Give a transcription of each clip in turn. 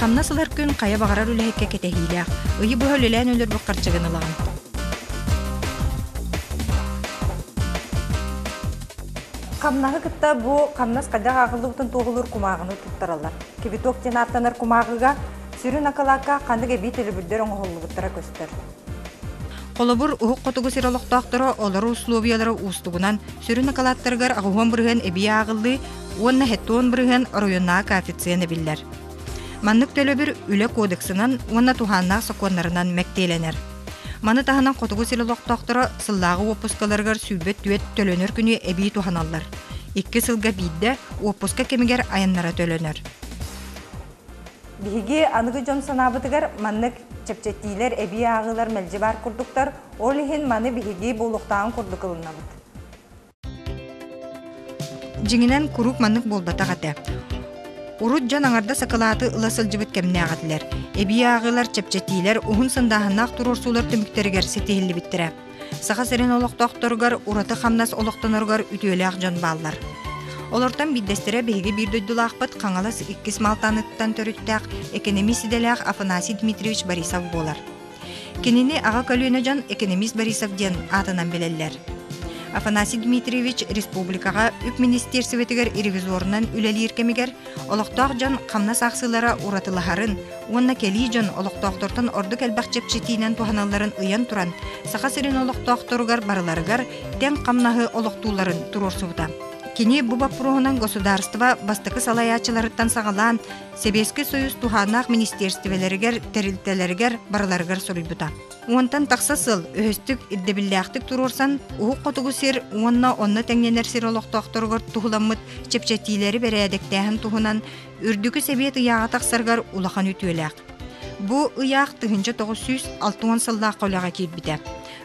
Хамнас ылар күн хайа баҕарар үлэһиккэ кэтэһиилээх. Ыйы быһа үлэлээн өлөрбүт харчыгын ылаҕын. Хамнаһы кытта бу хамнас хайдах ааҕыллыбытын туоһулуур кумааҕыны туттараллар. Кибиток диэн ааттанар кумааҕыга сүрүн акылаакка ханнык эбии төлөбүрдэр оҥоһуллубуттара көстөр. Холобур, уһук хотугу сир олохтоохторо олорор условиялара уустугунан сүрүн акалааттарыгар аҕуһуон бырыһын эбии ааҕыллыы уонна хеттуон бырыһын оройуоннааҕы коэффициент эбиллэр. Маннык төлөбүр үлэ кодексынан уонна туһааннаах сокуоннарынан мэктиэлэнэр. Маны таһынан хотугу сир олохтоохторо сыллааҕы уоппускаларыгар сүүрбэ түөрт төлөнөр күнү эбии туһаналлар. Икки сылга биирдэ уоппуска кэмигэр айаннара төлөнөр. Биһиги аныгы дьон санаабытыгар, маннык чэпчэтиилэр эбии ааҕыылар мэлдьи баар курдуктар, ол иһин маны биһиги буолуохтааҕын курдук ылынныбыт. Дьиҥинэн, куруук маннык буолбатах этэ. Урут дьон аҥардас акылааты ыла сылдьыбыт кэмнээх этилэр. Эбии ааҕыылар, чэпчэтиилэр уһун сындааһыннаах туруорсуулар түмүктэригэр ситиһиллибиттэрэ. Саха сирин олохтоохторугар ураты хамнас олохтоноругар үтүөлээх дьон бааллар. Олортон биирдэстэрэ биһиги биир дойдулаахпыт Хаҥалас иккис Малтаныттан төрүттээх экономист идэлээх Афанасий Дмитриевич Борисов буолар. Кинини аҕа көлүөнэ дьон экономист Борисов диэн аатынан билэллэр. Афанасий Дмитриевич республикаҕа үп министерствотыгар ревизорунан үлэлиир кэмигэр Олохтоох дьон хамнас аахсыылара уратылаһарын уонна кэлии дьон олохтоохтортон ордук элбэх чэпчэтиинэн туһаналларын ыйан туран, Саха сирин олохтоохторугар барыларыгар тэҥ хамнаһы олохтуулларын туруорсубута. Кини бу боппуруоһунан государство бастакы салайааччыларыттан саҕалаан Сэбиэскэй Союз туһааннаах министерстволэригэр тэрилтэлэригэр барыларыгар суруйбута. Уонтан тахса сыл үһүстүк ирдэбиллээхтик туруорсан Уһук Хотугу сир уонна онно тэҥнэнэр сир олохтоохторугар туһуламмыт чэпчэтиилэри бэрээдэктээһин туһунан Үрдүкү Сэбиэт ыйааҕа тахсарыгар улахан үтүөлээх. Бу ыйаах тыһыынча тоҕус сүүс алта уон сыллаах үлэҕэ киирбитэ.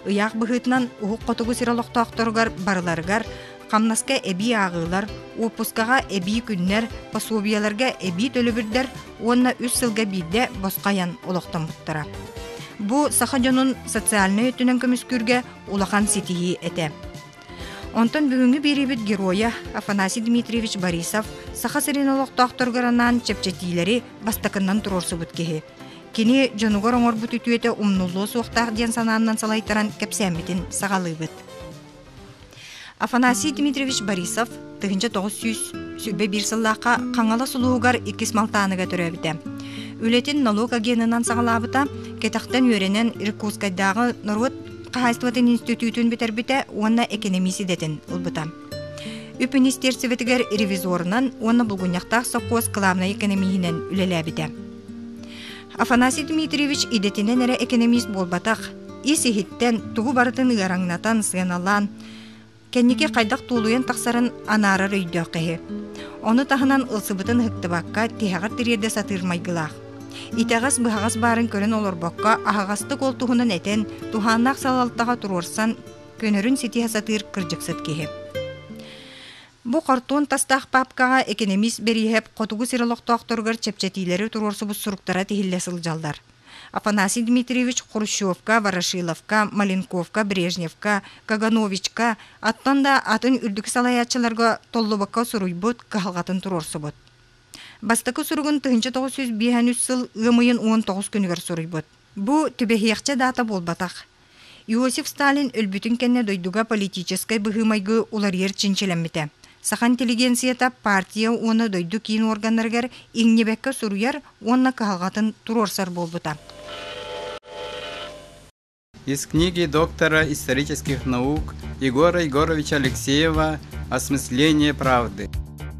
Ыйаах быһыытынан Уһук Хотугу сир олохтоохторугар барыларыгар хамнаска эбии ааҕыылар, уоппускаҕа эбии күннэр, пособиеларга эбии төлөбүрдэр уонна үс сылга биирдэ босхо айан олохтоммуттара. Бу саха дьонун социальнай өттүнэн көмүскүүргэ улахан ситиһии этэ. Онтон бүгүҥҥү биэриибит геройа Афанасий Дмитриевич Борисов Саха сирин олохтоохторугар анаан чэпчэтиилэри бастакыннан туруорсубут киһи. Кини дьонугар оҥорбут үтүөтэ умнуллуо суохтаах диэн санааннан салайтаран кэпсээммитин саҕалыыбыт. Афанасий Дмитриевич Борисов тыһыынча тоҕус сүүс сүүрбэ биир сыллаахха Хаҥалас улуугар иккис малтааныга төрөөбүтэ. Үлэтин нолуок агенынан саҕалаабыта, кэтэхтэн үөрэнэн Иркутскайдааҕы норуот хаһаайыстыбатын институтун бүтэрбитэ уонна экэнэмиис идэтин ылбыта. Үп министерствотыгар ревизорунан уонна булгунньахтаах сопхуос кылаабынай экэнэмииһинэн үлэлээбитэ. Афанасий Дмитриевич идэтинэн эрэ экэнэмиис буолбатах, ис-иһиттэн, тугу барытын ыараҥнатан, сыаналаан, кэнники хайдах туолуйан тахсарын анаарар өйдөөх киһи. Ону таһынан ылсыбытын ыһыктыбакка, тиһэҕэр тириэрдэ сатыыр майгылаах. Итэҕэс-быһаҕас баарын көрөн олорбокко, аһаҕастык ол туһунан этэн, туһааннаах салалтаҕа туруорсан, көнөрүн ситиһэ сатыыр кырдьыксыт киһи. Бу хортуон тастаах папкаҕа экэнэмиис Бэрииһэп Хотугу сир олохтоохторугар чэпчэтиилэри туруорсубут суруктара тиһиллэ сылдьаллар. Афанасий Дмитриевич Хрущевка, Ворошиловка, Маленковка, Брежневка, Кагановичка, аттан да атын үрдүкү салайааччыларга толлубакка суруйбут, кыһалҕатын туруорсубут. Бастакы суругун 1905 сыл ыам ыйын 19 күнүгэр суруйбут. Бу түбэһиэхчэ даата буолбатах. Иосиф Сталин өлбүтүн кэннэ дойдуга политическай быһыы-майгы уларыйар чинчилэммитэ. Саха интеллигенцията партия уонна дойду киин органнарыгар иҥнибэккэ суруйар уонна кыһалҕатын туруорсар буолбута. Из книги доктора исторических наук Егора Егоровича Алексеева «Осмысление правды»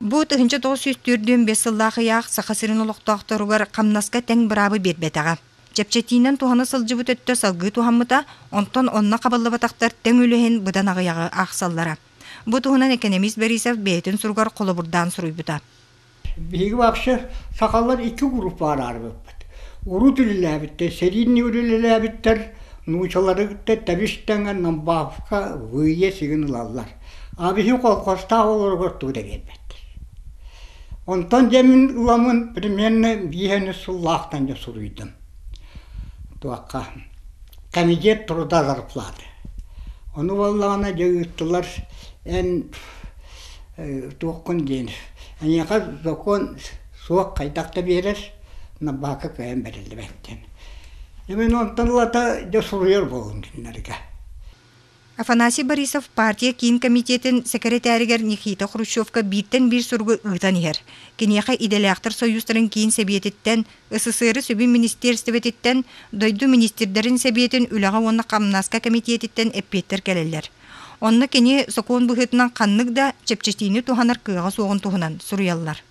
Бу тыһынча тоҕус сүүс төрдүөн бес сыллаах ыйаах Саха сирин олохтоохторугар хамнаска тэҥ быраабы биэрбэтэҕэ. Чэпчэтиинэн туһана сылдьыбыт өттө салгыы туһаммыта, онтон онно хабыллыбатахтар тэҥ үлэһин быдан аҕыйаҕы аахсаллара. Бу туһунан экономист Борисов бэйэтин суругар холобурдаан суруйбута. Биһиги вообще сахалар икки групп баараарбыппыт. Урут үлэлээбиттэр, серийный үлэлээбиттэр, нуучалары кытта тэбис тэҥэ намбаавка выйе сигин ылаллар. А биһиги колхозтаах олоругар тугу да биэрбэттэр. Онтон дьэ мин ыламын примерно бииһэни сыллаахтан дьэ суруйдум. Туохха комитет труда зарплаты. Ону буоллаҕына дьэ ыыттылар эн туоххун диэн эйиэхэ сокуон суох хайдах да биэрэр набаакка кыайан бэриллибэттэр. Дьэ мин онтон ылата дьэ суруйар буоллум кинилэргэ. Афанасий Борисов партия киин комитетин сэкирэтээригэр Никита Хрущевка бииртэн биир суругу ыытан иһэр. Киниэхэ идэлээхтэр союзтарын киин сэбиэтиттэн, СССР сүбүн министиэрстибэтиттэн, дойду министрдэрин сэбиэтин үлэҕэ уонна хамнааска кэмитиэтиттэн эппиэттэр кэлэллэр. Онно кини сокуон быһыытынан ханнык да чэпчэтиини туһанар кыаҕа суоҕун туһунан суруйаллар.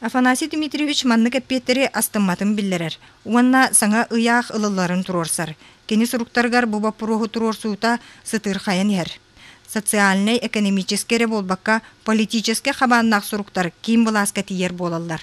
Афанасий Дмитриевич маннык эппиэттэри астымматын биллэрэр уонна саҥа ыйаах ылылларын туруорсар. Кини суруктарыгар бу боппуруоһу туруорсуута сытыырхайан иһэр. Социальнай-экономическай эрэ буолбакка, политическай хабааннаах суруктар киин былааска тиийэр буолаллар.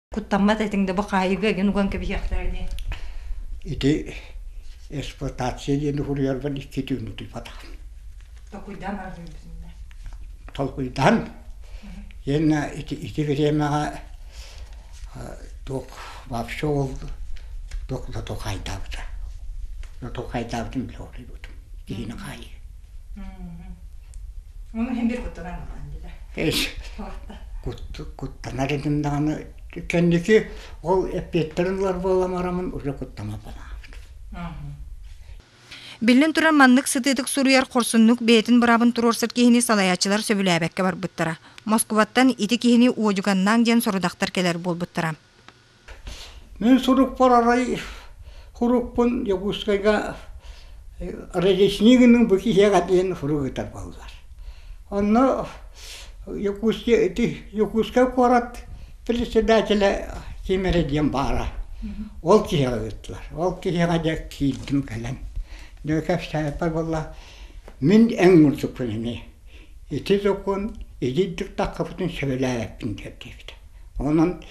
куттаммат этиҥ да бу хаайыыга эген уган кэбиһиэхтэрэ дии ити эксплуатация диэн уһуруйарбын икки түүн утуйбатаҕым толкуйдаан аргыйбытым да толкуйдаан иэннэ ити ити бириэмэҕэ туох вообще ол туох до толкайдаабыта до толкайдаабытын билэ улуйбутум киһини хаайыы Ону иһин бир куттанан ылаан билэ. Эс, куттанар этим даҕаны кэнники ол эппиэттерин ылар буоламарамын уже куттама панааабыт. Биллин туран маннык сытыытык суруйар хорсуннук бэйэтин быраабын туруорсар киһини салайааччылар сөбүлээбэккэ барбыттара. Москубаттан ити киһини уодьуганнаан диэн сорудахтар кэлэр буолбуттара. Мин сурукпар арай урукпун Дьокуускайга Разъяснение гынным бу киһиэхэ диэн сурук ыытар буоллулар. Онно Дьокуускай ити Дьокуускай куорат председателэ ким эрэ диэн баара. Ол киһиэхэ ыыттылар. Ол киһиэхэ дьэ киирдим кэлэн. Дьэ кэпсээбиппэр буолла мин эн мурдукпун ини. Ити сокуон итинник таххапытын сөбүлээбэппин диэн диэбитэ. Онон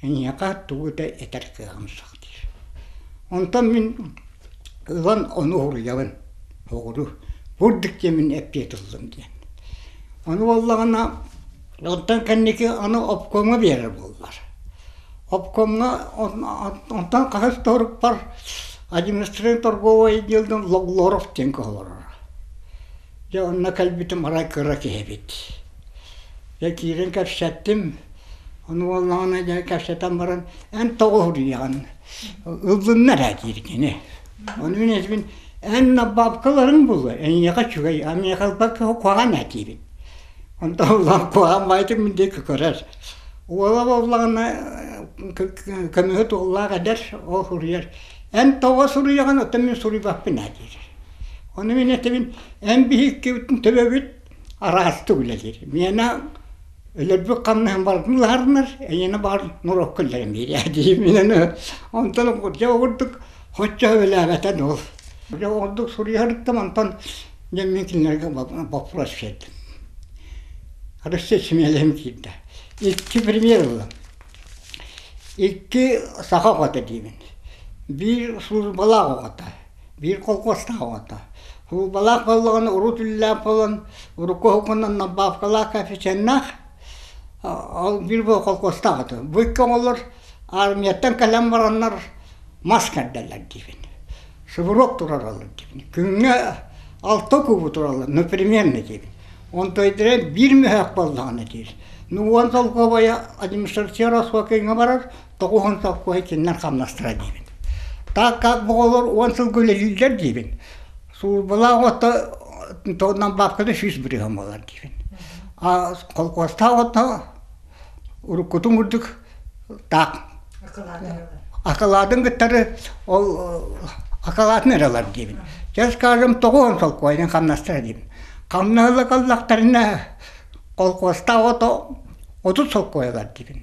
эйиэхэ тугу да этэр кыаҕым суох диир. Онтон мин ылан ону уһуруйабын. Угуру бурдук диэн мин эппиэт ыллым диэн. Ону буоллаҕына онтон кэнники аны обкомҥа биэрэр буоллар. Обкомҥа онтон хаһыс да оруппар административнай торговый отделын Логлоров диэн кыһаларара. Дьэ онно кэлбитим арай кыра киһибит. Дьэ киирэн кэпсэттим. Ону буоллаҕына дьэ кэпсэтэн баран эн тоҕо уһуруйаҕын? Ыллыннар ээ диир кини. Ону мин этибин эн бабкаларыҥ буллар эйиэхэ үчүгэй а миэхэ ылбакка куһаҕан этиибин. Онто улахан куһаҕан баайытын мин диэки көрөр. Уола буоллаҕына көмүһүт уоллаах эдэр ол суруйар эн тоҕо суруйаҕын оттон мин суруйбаппын ээ диир. Ону мин этэбин, эн биһиккибитин төбөбүт араастык үлэлиир. Миэнэ өлөрбүт хамнаһын барытын ыһарынар, эйиэнэ баар норокко үллэриэн биэрээ дии мин онтон дьэ ордук хоччо өбүлээбэтэ дуу. Дьэ ордук суруйарыттан онтон дьэ мин кинилэргэ боппуруос биэрдим. Арыссыа симиэлэһим киирдэ. Икки премьер ыллым. Икки саха оҕото диибин. Биир службалаах оҕото. биир колхуостаах оҕото. Суубалаах буоллаҕына урут үлэлээн буолан урукку уһугунан Набаевкалаах коэффициеннаах ол биир колхуостаах этэ. Быыкка оҥолор армияттан кэлэн бараннар мас кэрдэллэр диибин. Субуруок тураралар диибин. Күҥҥэ алта куубу тураллар, непременно диибин. Онтойдерен биир мөһөөк буоллаҕына диир. Ну уон солкуобайа административная рассрочкаҥа барар, тоҕуһун совхоһа итиннэн хамнастара диибин. Так как оҕолор уон сылга үлэлииллэр диибин. Службалаах отто туоннан бабкада сүүс бырыһым болар диибин. А колхозтаах отто уруккутун курдук так акылаатын кыттары ол акылаатын эралар диибин. Чэ скажем тоҕуһун солкуойдын хамнастара диибин. Хамнаһыла каллахтарына колхозтаах ото отут солкуойалар диибин.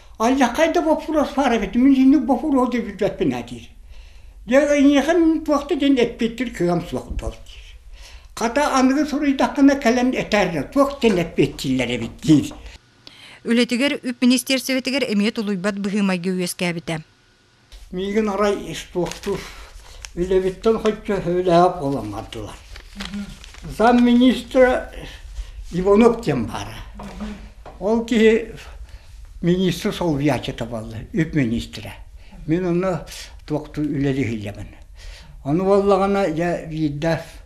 Аллаххай да боппуруос фараби мин инник боппуруос да билбэппин а диир. Дьэ эйиэхэ туохта диэн эппиттир кыам суох буол диир. Хата аныгы суруйдаххына кэлэн этэр туох диэн эппиттиллэр эбит диир. Үлэтигэр үп министиэрсэбэтигэр эмиэ тулуйбат быһыымайга үөскээбитэ. Миигин арай испуохтуур, үлэбиттэн хоччу һөөлэһэ буолан бардылар. Замминистра Иванов диэн баара. Ол киһи министр солбуйааччыта буолла, үп министрэ. Мин ону туохтуу үлэлиһилэмин. Ону буоллаҕына, я видав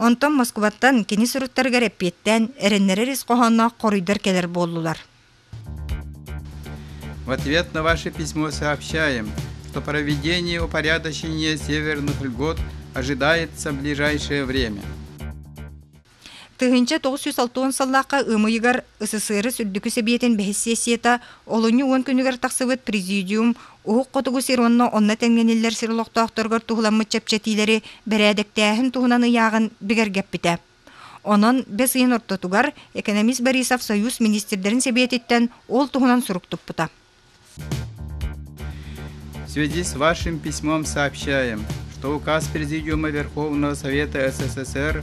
Онтон Москубаттан кини суруттарыгар эппиэттээн эрэннэрэр ис хоһоонноох хоруйдар кэлэр буоллулар. В ответ на ваше письмо сообщаем, что проведение упорядочения северных льгот ожидается в ближайшее время. Тыһыынча тоҕус жүз алтыон сыллаахха ымыйыгар СССР Үрдүкү Сэбиэтин бэһис сессията олунньу уон күнүгэр тахсыбыт президиум Уһук Хотугу сир уонна онно тэҥнэниллэр сир олохтоохторугар туһуламмыт чэпчэтиилэри бэрээдэктээһин туһунан ыйааҕын бигэргэппитэ. Онон бэс ыйын ортотугар экономист Борисов Союз министрдэрин сэбиэтиттэн ол туһунан сурук туппута. В связи с вашим письмом сообщаем, что указ Президиума Верховного Совета СССР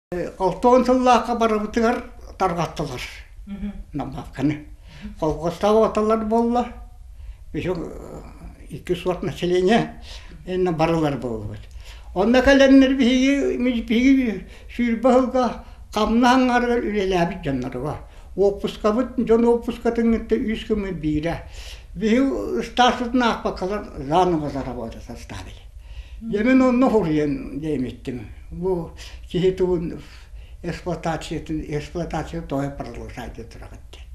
Холтоон сыллаахха барыбытыгар тарҕаттылар. Намаакканы. Колхозтаах оталар буолла. Еще икки сорт населения инна барылар буоллубут. Онно кэлэннэр биһиги биһиги сүүрбэ сылга хамна аңгарыгар үлэлээбит дьоннорго. Уоппускабыт дьон уоппускатынгытта үс кымы биирэ. Биһи ыстаарсытын аахпаккалар заново заработать оставили. дьэ мин онно суруйан диэмиттим бу киһи тылын эксплуатациятын эксплуатация тоҕо продолжать тураҕыт диэн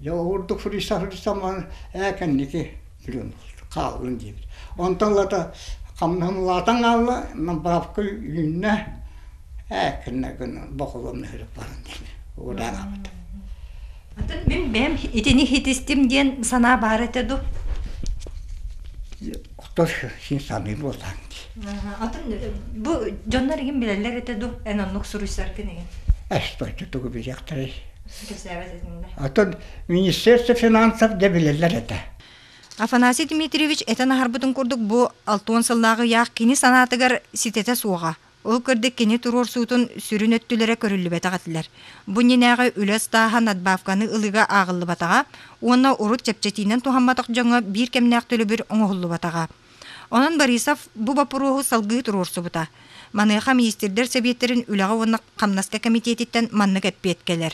дьэ ол курдук суруйсан суруйсан баран ээ кэнники плюн хааллын диэбит онтон лата хамнаһымалаатан хаалла мин бабка үүннэ ээ кэннэ гына боколом нөһүрүк баран диэн удаанабыт атын мин бэйэм итини хитистим диэн санаа баар этэ дуу Хто син саныы буолан дии. Атын бу дьоннор игин билэллэр этэ ду эн оннук суруйсар кинигин. Эсточчу тугу билиэхтэрэй? Кэсээбэт этиҥ да. Атын министерство финансов да билэллэр этэ. Афанасий Дмитриевич этэн аһарбытын курдук бу алтуон сыллааҕы ыйаах кини санаатыгар ситэтэ суоҕа. Ол курдук кини туруорсуутун сүрүн өттүлэрэ көрүллүбэтэх этилэр. Бу иннинээҕи үлэ ыстааһа надбавканы ылыыга ааҕыллыбатаҕа уонна урут чэпчэтиинэн туһамматах дьоҥҥо биир кэмнээх төлөбүр оҥоһуллубатаҕа. Онон Борисов бу боппуруоһу салгыы туруорсубута. Маныаха министрдэр сэбиэттэрин үлэҕэ уонна хамнаска кэмитиэтиттэн маннык эппиэт кэлэр.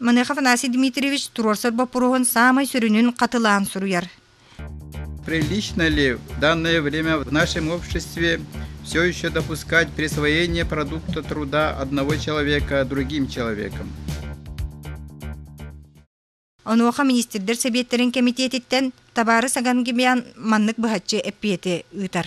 Маныах Афанасий Дмитриевич туруорсар боппуруоһун саамай сүрүнүн хатылаан суруйар. Прилично ли в данное время в нашем обществе все еще допускать присвоение продукта труда одного человека другим человеком? Онуоха министрдэр сэбиэттэрин кэмитиэтиттэн табаары сагангимиан маннык быһаччы эппиэти ыытар.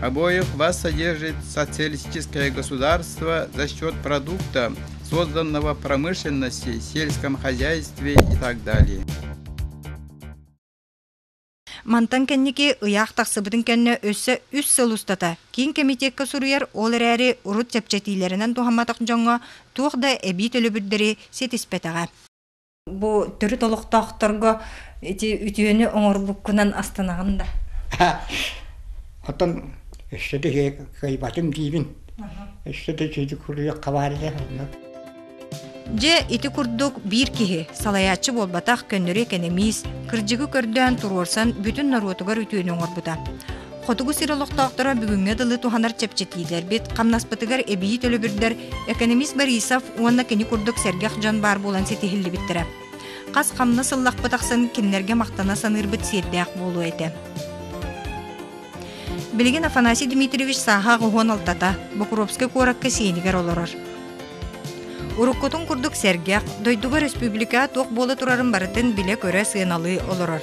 Обоев воссодержит социалистическое государство за счет продукта, созданного промышленности, сельском хозяйстве и так далее. Мантан кэнники ыйаах тахсыбытын кэннэ өссө үс сыл устата киин кэмитиэккэ суруйар ол эрээри урут чэпчэтиилэринэн туһамматах дьоҥҥо туох да эбии төлөбүрдэри ситиспэтэҕэ. Бу төрүт олохтоохторго ити үтүөнү оҥорбуккунан астанаҕын да? Оттон өссө да кыайбатым диибин. Өссө да үтүө куруйах хабаарыйа Дьэ, ити курдук биир киһи салайааччы буолбатах көннөрү экэнэмиис кырдьыгы көрдөөн туруорсан бүтүн норуотугар үтүөнү оҥорбута. Хотугу сир олохтоохторо бүгүҥҥэ дылы туһанар чэпчэтиилэрбит, хамнаспытыгар эбии төлөбүрдэр экономист Борисов уонна кини курдук сэргэх дьон баар буолан ситиһиллибиттэрэ. Хас хамнас ыллахпыт ахсын кинилэргэ махтана саныырбыт сиэрдээх буолуо этэ. Билигин Афанасий Дмитриевич сааһаах уһуон алтата Бокуровскай куоракка сиэнигэр олорор. Уруккутун курдук сэргэх, дойдуга республика туох буола турарын барытын билэ-көрө сыаналыы олорор.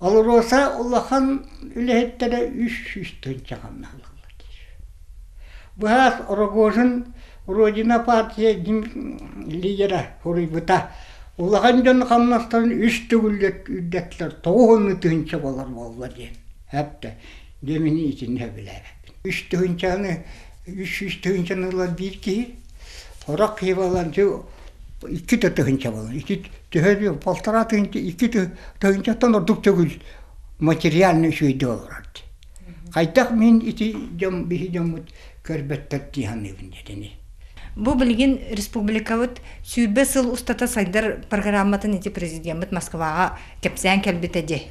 АЛРОСА улахан үлэһиттэрэ үс сүүс тыһыынча хамнаһалаахтар быһаас Рогожин Родина партия лидера суруйбута улахан дьон хамнастарын үс төгүл үрдэттилэр тоҕус уонна тыһыынча буолар буолла диэн эттэ Демини итиннэ билээбэппин. Үс тыһыынчаны, үс сүүс тыһыынчаны ылар биир киһи, сорох киһи буолан икки да тыһыынча буолан, ити төһө полтора тыһыынча, икки тыһыынчаттан ордук төгүл материальный үчүгэйдик олорор дии. Хайдах мин ити дьон, биһи дьоммут көрбөттөр дии саныыбын диэтэ ини. Бу билигин республикабыт сүүрбэ сыл устата сайдар программатын ити президеммит Москваҕа кэпсээн кэлбитэ дии.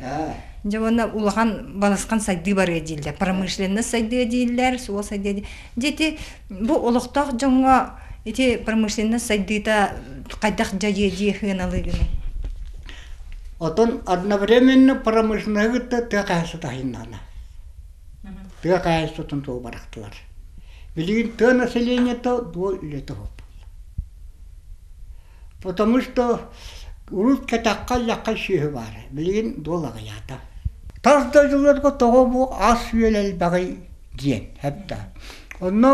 Дьэ уонна улахан балысхан сайдыы барыа дииллэр, промышленность сайдыа дииллэр, суол сайдыа дииллэр. Дьэ ити бу олохтоох дьоҥҥо ити промышленность сайдыыта хайдах дьайыа дии сыаналыыгыный? Оттон одновременно промышленнайга тыа хаһыта таһыыннана. тыа хаһаайыстыбатын туһу бырахтылар билигин тыа население дуо үлэтэ уһулбута потому что урут кэтэххэ лэххэ сүөһү баара билигин дуол аҕыйаата тас дойдуларга тоҕо бу ас үөл элбэҕий диэн эбэтэ онно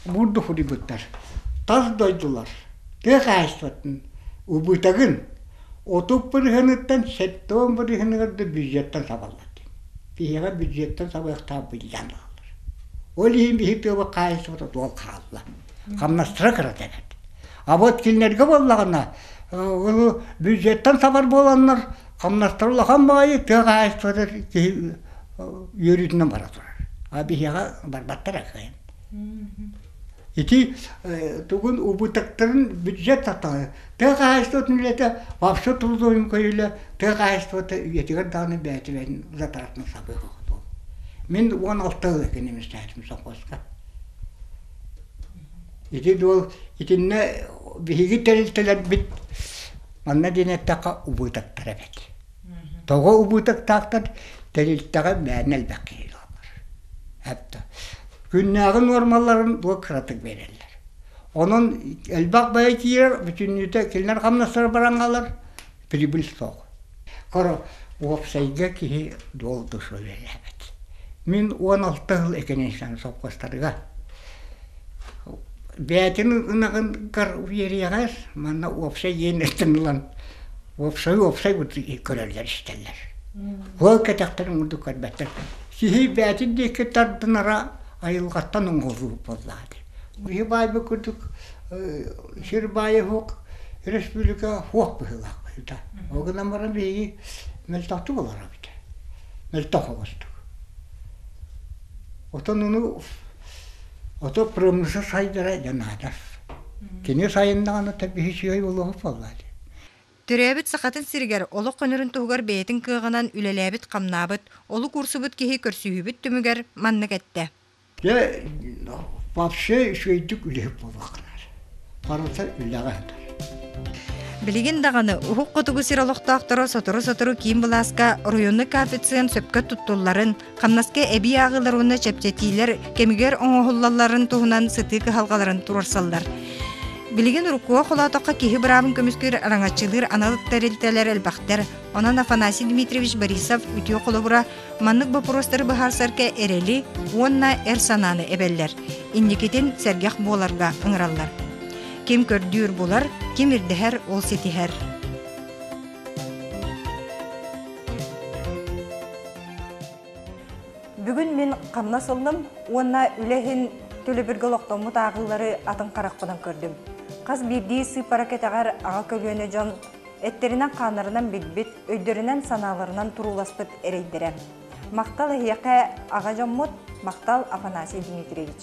бурду худуйбуттар тас дойдулар тыа хаһаайыстыбатын убытагын отут бырыһыныттан сэттэ уон бырыһыныгар да бюджеттан сабаллар Киһиэхэ бүддьүөттэн сабыахтаах биллэн хаалар. Ол иһин биһи тыаба хаайсыбата туол хаалла. Хамнастыра кырата эбэт. А вот кинилэргэ буоллаҕына, ол бюджеттан сабар буоланнар, хамнастар улахан баайы тыа хаайсыбата киһи үөрүүтүнэн бара турар. А биһиэхэ барбаттар акыйын. Ити тугун убытыктарын бюджет Тыа хаһаайыстыбатын үлэтэ вовсу трудуйун көйүлэ тыа хаһаайыстыбата үйэтигэр даҕаны бээтибээн затаартын сабыыһыгытын. Мин уон алта ыла кинимистээтим совхозка. Ити дуол итиннэ биһиги тэрилтэлэрбит манна диэн эттэххэ убыытаттар эбит. Тоҕо убытыктаахтар тэрилтэҕэ мээнэ элбэх киһилииллэр. Эптэ күннээҕи нуормаларын дуо кыратык биэрэллэр. Онон элбэх бэйэ киирэр, бүтүннүүтэ кинилэр хамнастара бараҥалар, прибыль суох. Хоро уопсайга киһи долгу суолэлээбэт. Мин уон алта сыл экинчисээн совхозтарга бээтин ынагын гар уверияҕас, манна уопсай иэннэттэн ылан Уопсайы уопсай курдук көрөллөр-истэллэр. Уол кэтэхтэрин курдук көрбөттөр. Сиһийбээтин диэки тардынара айылҕаттан оҥоһулуур буоллаады. Киһи баайбыт курдук сир баайа суох республика суох быһыылаах быһыыта. Ол гынан баран биһиги мөлтөхтүк олоро эбитэ. Мөлтөх оҕустук. Отон ону ото промышла сайдара дьанаадас. Кини сайыннаҕына табиһи сүөй олоһут буоллаады. Төрөөбүт Сахатын сиригэр олох көнөрүн туһугар бэйэтин кыаҕынан үлэлээбит-хамнаабыт, олук уурсубут киһи көрсүһүүбүт түмүгэр маннык эттэ. Дьэ, вообще үчүгэйдик үлэһит буолуохтар. Барыта үлэҕэ ыытар. Билигин даҕаны уһук хотугу сир олохтоохторо сотору-сотору киин былааска оройуоннук коэффициент сөпкө туттулларын, Хамнаска эбии ааҕыылар уонна чэпчэтиилэр кэмигэр оҥоһуллалларын туһунан сытыы кыһалҕаларын туруорсаллар. Билигин уруккуга холоотоххо киһи быраабын көмүскүүр араҥаччылыыр анал тэрилтэлэр элбэхтэр. Онон Афанасий Дмитриевич Борисов үтүө холобура маннык боппуруостары быһаарсарга эрэли уонна эр санааны эбэллэр. Инникитин сэргэх буоларга ыҥыраллар. Ким көрдүүр булар, ким ирдэһэр ол ситиһэр. Бүгүн мин хамнас ылным уонна үлэһин төлөбүргэ олохтоммут ааҕыылары атын харахпынан көрдүм. Хас биирдии сыыппара кэтэҕэр аҕа көлүөнэ дьон эттэринэн-хааннарынан билбит, өйдөрүнэн-санааларынан турууласпыт эрэйдэрэ. Махтал эһиэхэ аҕа дьоммут, махтал Афанасий Дмитриевич.